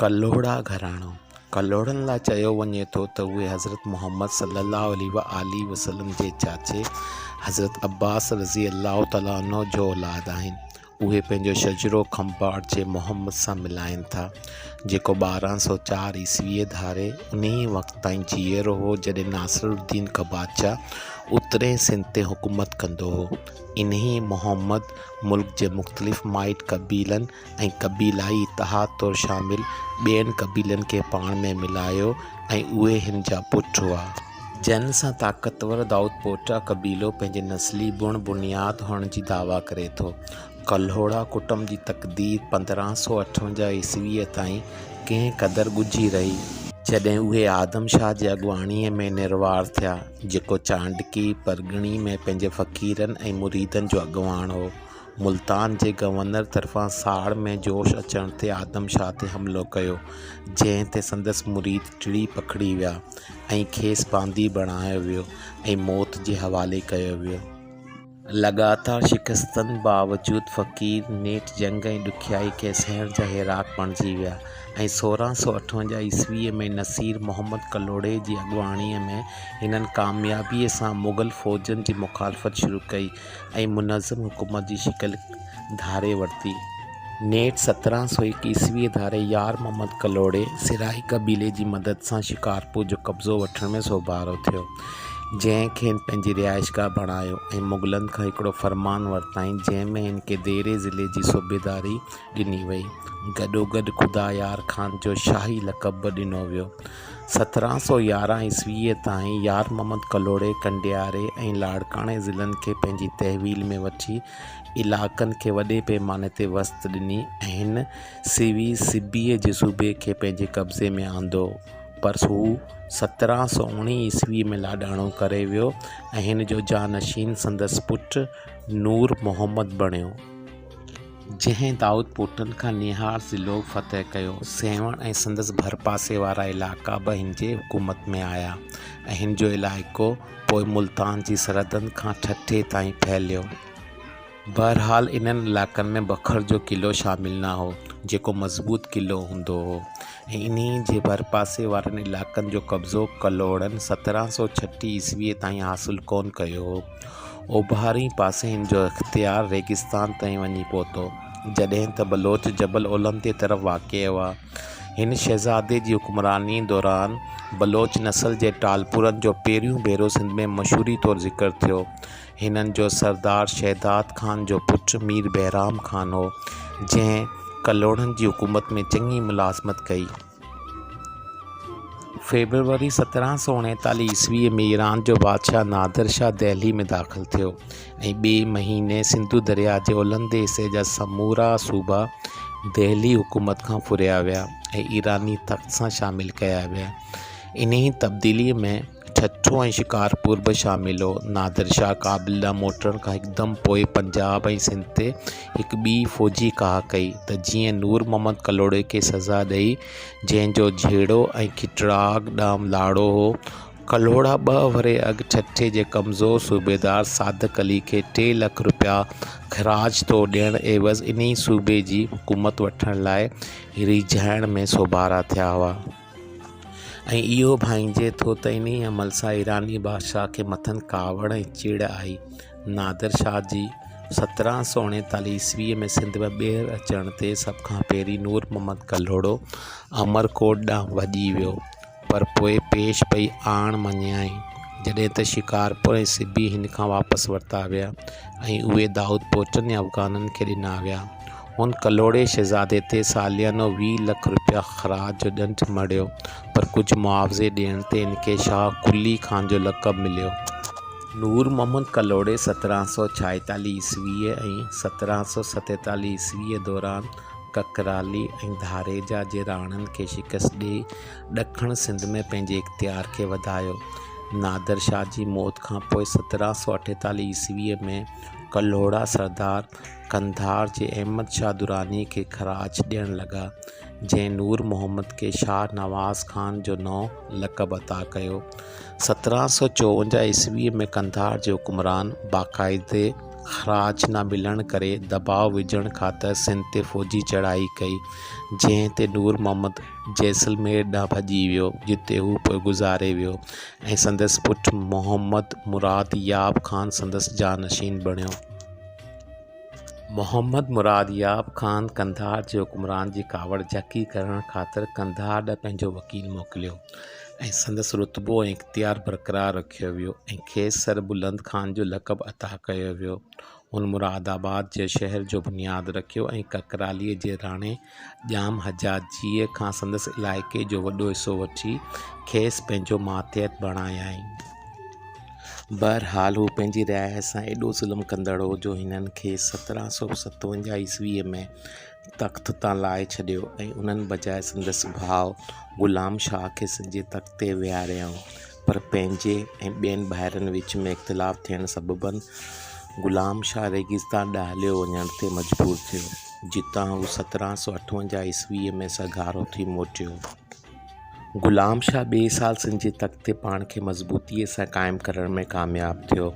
ڪلهوڙا گهراڻو، ڪلهوڙن لاء چيو وڃي ٿو ته اهي حضرت محمد صلّي الله عليه واٰله وسلّم جي چاچي حضرت عبّاس رضي الله تعالٰي عنه جو اولاد آهن. اهي پنهنجو شجرو کنڀاٽ جي محمّد سان ملائين ٿا، جيڪو ٻارهن سؤ چار عيسويء ڌاري انهيء وقت تائين جيئرو هو جڏهن ناصرالدّين قباچه اترئين سنڌ تي حڪومت ڪندو هو. انهيء محمّد ملڪ جي مختلف مائٽ قبيلن ۽ قبيلائي اتحاد طور شامل ٻين قبيلن کي پاڻ ۾ ملايو ۽ اهي هن جا پٽ هئا. جنهن سان طاقتور دائودپوٽا قبيلو پنهنجي نسلي بڻ بنياد هئڻ جي دعويٰ ڪري ٿو. ڪلهوڙا ڪٽنب جي تقدير پندرهن سؤ اٺونجاهه عيسويء تائين ڪنهن قدر ڳجهي رهي، جڏهن اهي آدم شاهه جي اڳواڻيء ۾ نروار ٿيا، جيڪو چانڊڪي پرڳڻي ۾ پنهنجي فقيرن ۽ مريدن جو اڳواڻ هو. ملتان جي گورنر طرفان ساڙ ۾ جوش اچڻ تي آدم شاهه تي حملو ڪيو، جنهن تي سندس مريد ٽڙي پکڙي ويا ۽ کيس باندي بڻايو ويو ۽ موت جي حوالي ڪيو ويو. لڳاتار شڪستن باوجود فقير نيٺ جنگ ۽ ڏکيائي کي سهڻ جا هيراڪ بڻجي ويا ۽ سورهن سؤ اٺونجاهه عيسويء ۾ نصير محمد ڪلهوڙي جي اڳواڻيء ۾ هنن ڪاميابيء سان مغل فوجن جي مخالفت شروع ڪئي. ۽ منظم حڪومت جي شڪل ڌاري ورتي. نيٺ سترهن سؤ هڪ عيسويء ڌاري يار محمد ڪلهوڙي سرائي قبيلي جي مدد سان شڪارپور جو قبضو وٺڻ ۾ سوڀارو ٿيو، جنهن کين پنهنجي رهائشگاهه بڻايو ۽ مغلن کان هڪڙو فرمان ورتائين، جنهن ۾ هن کي ديري ضلعي جي صوبيداري ڏني وئي. گڏوگڏ خدايار خان جو شاهي لقب به ڏنو ويو. سترهن سؤ يارهن عيسويء تائين يار محمد ڪلهوڙي ڪنڊياري ۽ لاڙڪاڻي ضلعن کي پنهنجي تحويل ۾ وٺي علائقن کي وڏي پيماني تي وسعت ڏني ۽ هن سيوي سبيء جي صوبي کي پنهنجي قبضي ۾ آندو پر هو سترهن سؤ اوڻيهه عيسويء ۾ لاڏاڻو ڪري ويو ۽ هن جو جانشين سندس پٽ نور محمد بڻيو جنهن دائود پوٽن کان نيهار ضلعو فتح ڪيو. سيوهڻ ۽ سندس ڀرپاسي وارا علائقا به هن جي حڪومت ۾ آيا ۽ هن جو علائقو پوء ملتان جي سرحدن کان ٺٽي تائين ڦهليو. بهرحال انهن علائقن ۾ بکر جو قلعو شامل نه هو، جيڪو مضبوط قلعو هوندو هو ۽ انهيء جي ڀرپاسي وارن علائقن جو قبضو ڪلهوڙن سترهن سؤ ڇٽيهه عيسويء تائين حاصل ڪونه ڪيو هو. اوڀرئين پاسي هن جو اختيار ريگستان تائين وڃي پهتو، جڏهن ته بلوچ جبل اولهندي طرف واقع هئا. هن شهزادي جي حڪمرانيء دوران بلوچ نسل جي ٽالپرن جو پهريون ڀيرو سنڌ ۾ مشهوريء طور ذڪر ٿيو. هنن جو سردار شهداد خان جو پٽ مير بهرام خان هو، جنهن ڪلهوڙن جي حڪومت ۾ چڱي ملازمت ڪئي. فيبروري سترهن سؤ اڻيتاليهه عيسوي ۾ ايران جو بادشاهه نادر شاهه دهلي ۾ داخل ٿيو ۽ ٻئي مهيني سنڌو درياء جي اولهندي حصي جا سمورا صوبا دهلي حڪومت کان ڦريا ويا ۽ ايراني تخت سان شامل ڪيا ويا انهيء تبديليء ۾، ٺٽو ۽ شڪارپور به شامل هو. نادر شاهه ڪابل ڏانهن موٽڻ کان هڪدم پوء پنجاب ۽ سنڌ تي هڪ ٻي فوجي ڪاهه ڪئي ته جيئن نور محمد ڪلهوڙي کي سزا ڏئي، جنهن جو جهيڙو ۽ کٽراڳ ڏانهن لاڙو هو. ڪلهوڙا ٻه ورهيه اڳ ٺٽي جي ڪمزور صوبيدار صادق علي کي ٽي لک رپيا خراج طور ڏيڻ عيوض انهيء صوبي جي حڪومت وٺڻ لاء ريجهائڻ ۾ سوڀارا ٿيا هئا. ۽ اهو ڀانئجي ٿو ته انهيء عمل سان ايراني بادشاهه کي مٿن ڪاوڙ ۽ چڙ آئي. نادر شاهه جي سترهن سؤ اڻيتاليهه عيسويء ۾ سنڌ ۾ ٻيهر اچڻ تي سڀ کان پهرين نور محمد ڪلهوڙو عمرڪوٽ ڏانهن ڀڄي ويو، پر پوء پيش پئي آڻ مڃيائين، جڏهن ته شڪارپور ۽ سبي هن کان واپس ورتا ويا ۽ اهي دائودپوٽن يا افغانن کي ڏنا ويا. هن ڪلهوڙي شهزادي تي ساليانو ويهه لک رپيا خراج جو ڏنڊ مڙهيو، پر ڪجهه معاوضي ڏيڻ تي هن کي شاهه قلي خان جو لقب مليو. نور محمد ڪلهوڙي سترهن سؤ ڇائيتالهه عيسويء ۽ سترهن سؤ ستيتالهه عيسويء دوران ڪڪرالي ۽ ڌاريجا جي راڻن کي شڪست ڏيئي ڏکڻ سنڌ ۾ پنهنجي اختيار کي وڌايو. نادر شاهه جي موت کان پوء سترهن سؤ اٺيتالهه عيسويء ۾ ڪلهوڙا سردار قنڌار جي احمد شاهه دراني کي خراج ڏيڻ لڳا، جنهن نور محمد کي شاهه نواز خان جو نئون لقب عطا ڪيو. سترهن سؤ چوونجاهه عيسويء ۾ قنڌار جي حڪمران باقاعدي خراج نه ملڻ ڪري دٻاء وجهڻ خاطر سنڌ تي فوجي چڙهائي ڪئي، جنهن تي نور محمد جيسلمير ڏانهن ڀڄي ويو، جتي هو پوء گذاري ويو ۽ سندس پٽ محمد مراد ياب خان سندس جانشين بڻيو. محمد مراد ياب خان قنڌار جي حڪمران جي ڪاوڙ جهڪي ڪرڻ خاطر قنڌار ڏانهن پنهنجو وڪيل موڪليو ۽ سندس رتبو ۽ اختيار برقرار رکيو ويو ۽ کيس سر بلند خان جو لقب عطا ڪيو ويو هن مراد آباد جي شهر جو بنياد رکيو ۽ ڪڪرالي جي راڻي ڄام حجاجيء کان سندس علائقي جو وڏو حصو وٺي، کيس پنهنجو ماتحت بڻايائين. بهرحال هو پنهنجي رعايا سان ايڏو ظلم ڪندڙ هو، جو هنن کيس سترهن سؤ ستونجاهه عيسويء ۾ تخت تان لاهي ڇڏيو ۽ انهن بجاء سندس ڀاء غلام شاهه کي سنڌ جي تخت تي ويهاريائون. پر پنهنجي ۽ ٻين ڀائرن وچ ۾ اختلاف ٿيڻ سببن غلام شاهه ريگستان ڏانهن هليو وڃڻ تي مجبور ٿيو، جتان هو سترهن سؤ اٺونجاهه عيسويء ۾ سگهار اٿي موٽيو. غلام شاهه ٻئي سال سنڌ جي تخت تي پاڻ کي مضبوطيء سان قائم ڪرڻ ۾ ڪامياب ٿيو.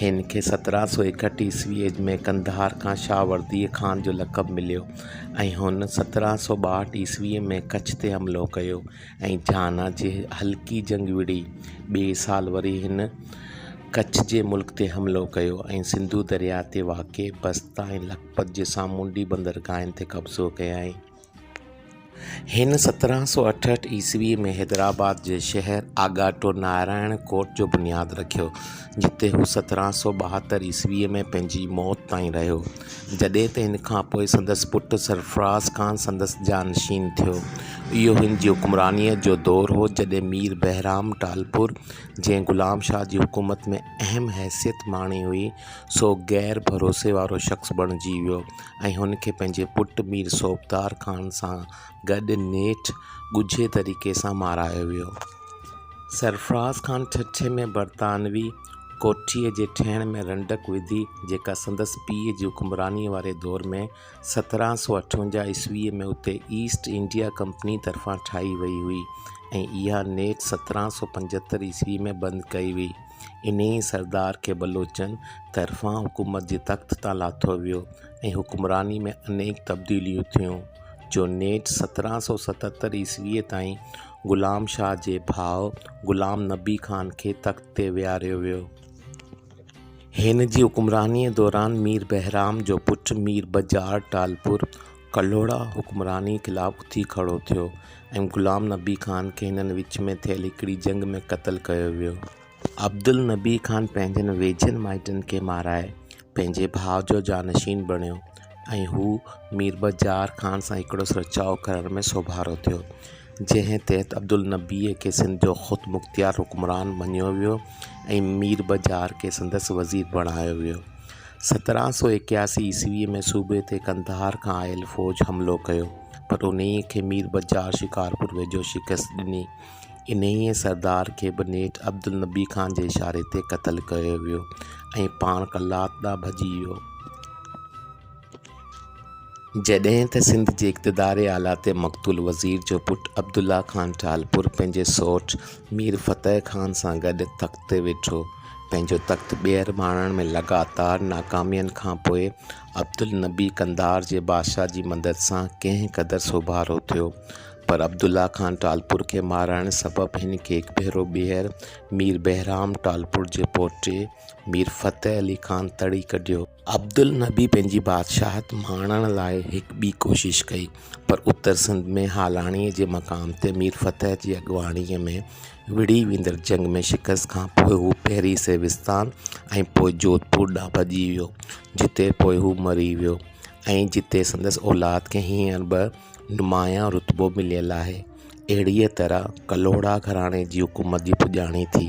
هن کي سترهن سؤ ايڪهٺ عيسويء ۾ قنڌار کان شاهه ورديء خان جو لقب مليو ۽ هن سترهن سؤ ٻاهٺ عيسويء ۾ ڪڇ تي حملو ڪيو. ۽ جهانا جي هلڪي جنگ وڙهي ٻئي سال وري هن ڪڇ جي ملڪ تي حملو ڪيو ۽ سنڌو درياء تي واقع بستا ۽ لکپت جي سامونڊي بندرگاهن تي قبضو ڪيائين. هن سترهن سؤ اٺهٺ عيسويء ۾ حيدرآباد جي شهر آڳاٽو نارائڻ ڪوٽ جو بنياد رکيو، جتي هو سترهن سؤ ٻاهتر عيسويء ۾ پنهنجي موت تائين رهيو، جڏهن ته هن کان پوء سندس پٽ سرفراز خان سندس جانشين ٿيو. اهو هن جي حڪمرانيء جو دور هو، جڏهن مير بهرام ٽالپر، جنهن غلام شاهه جي حڪومت ۾ اهم حيثيت ماڻي هئي، سو غير ڀروسي وارو شخص بڻجي ويو ۽ هن کي پنهنجي پٽ مير صوبدار خان سان گڏ نيٺ ڳجهي طريقي سان مارايو ويو. سرفراز خان ٺٽي ۾ برطانوي ڪوٺيء جي ٺهڻ ۾ رنڊڪ وڌي، جيڪا سندس پيء جي حڪمرانيء واري دور ۾، سترهن سؤ اٺونجاهه عيسويء ۾، اتي ايسٽ انڊيا ڪمپنيء طرفان ٺاهي ويئي هئي ۽ اها نيٺ سترهن سؤ پنجهتر عيسويء ۾ بند ڪئي ويئي. انهيء سردار کي بلوچن طرفان حڪومت جي تخت تان لاٿو ويو ۽ حڪمرانيء ۾ انيڪ تبديليون ٿيون، جو نيٺ سترهن سؤ ستهتر عيسويء تائين غلام شاهه جي ڀاء غلام نبي خان کي تخت تي ويهاريو ويو. هن جي حڪمرانيء دوران مير بهرام جو پٽ مير بجاڙ ٽالپور ڪلهوڙا حڪمرانيء خلاف اٿي کڙو ٿيو ۽ غلام نبي خان کي هنن وچ ۾ ٿيل هڪڙي جنگ ۾ قتل ڪيو ويو. عبدالنبي خان پنهنجن ويجهن مائٽن کي مارائي پنهنجي ڀاء جو جانشين بڻيو ۽ هو ميربجار خان سان هڪڙو سرچاء ڪرڻ ۾ سوڀارو ٿيو، جنهن تحت عبدالنبيء کي سنڌ جو خودمختيار حڪمران مڃيو ويو ۽ ميربجار کي سندس وزير بڻايو ويو. سترهن سؤ ايڪياسي عيسويء ۾ صوبي تي قنڌار کان آيل فوج حملو ڪيو، پر انهيء کي ميربجار شڪارپور ويجهو شڪست ڏني. انهيء سردار کي به نيٺ عبدالنبي خان جي اشاري تي قتل ڪيو ويو ۽ پاڻ قلات ڏانهن ڀڄي ويو. جڏهن ته سنڌ جي اقتدار اعليٰ تي مقتول وزير جو پٽ عبدالله خان ٽالپر پنهنجي سؤٽ مير فتح خان سان گڏ تخت تي ويٺو، پنهنجو تخت ٻيهر ماڻڻ ۾ لڳاتار ناڪامين کان پوء عبدالنبي قنڌار جي بادشاهه جي مدد سان ڪنهن قدر سوڀارو ٿيو. پر عبدالله خان ٽالپر کي مارائڻ سبب هن کي هڪ ڀيرو ٻيهر مير بهرام ٽالپر جي پوٽي مير فتح علي خان تڙي ڪڍيو. عبدالنبي پنهنجي بادشاهت ماڻڻ لاء هڪ ٻي ڪوشش ڪئي، پر اتر سنڌ ۾ هالاڻيء جي مقام تي مير فتح جي اڳواڻيء ۾ وڙهي ويندڙ جنگ ۾ شڪست کان پوء هو پهرين سيوستان ۽ پوء جوڌپور ڏانهن ڀڄي ويو، جتي پوء هو مري ويو ۽ جتي سندس اولاد کي هينئر به نمايان رتبو مليل آهي. اهڙيء طرح ڪلهوڙا گهراڻي جي حڪومت جي پڄاڻي ٿي.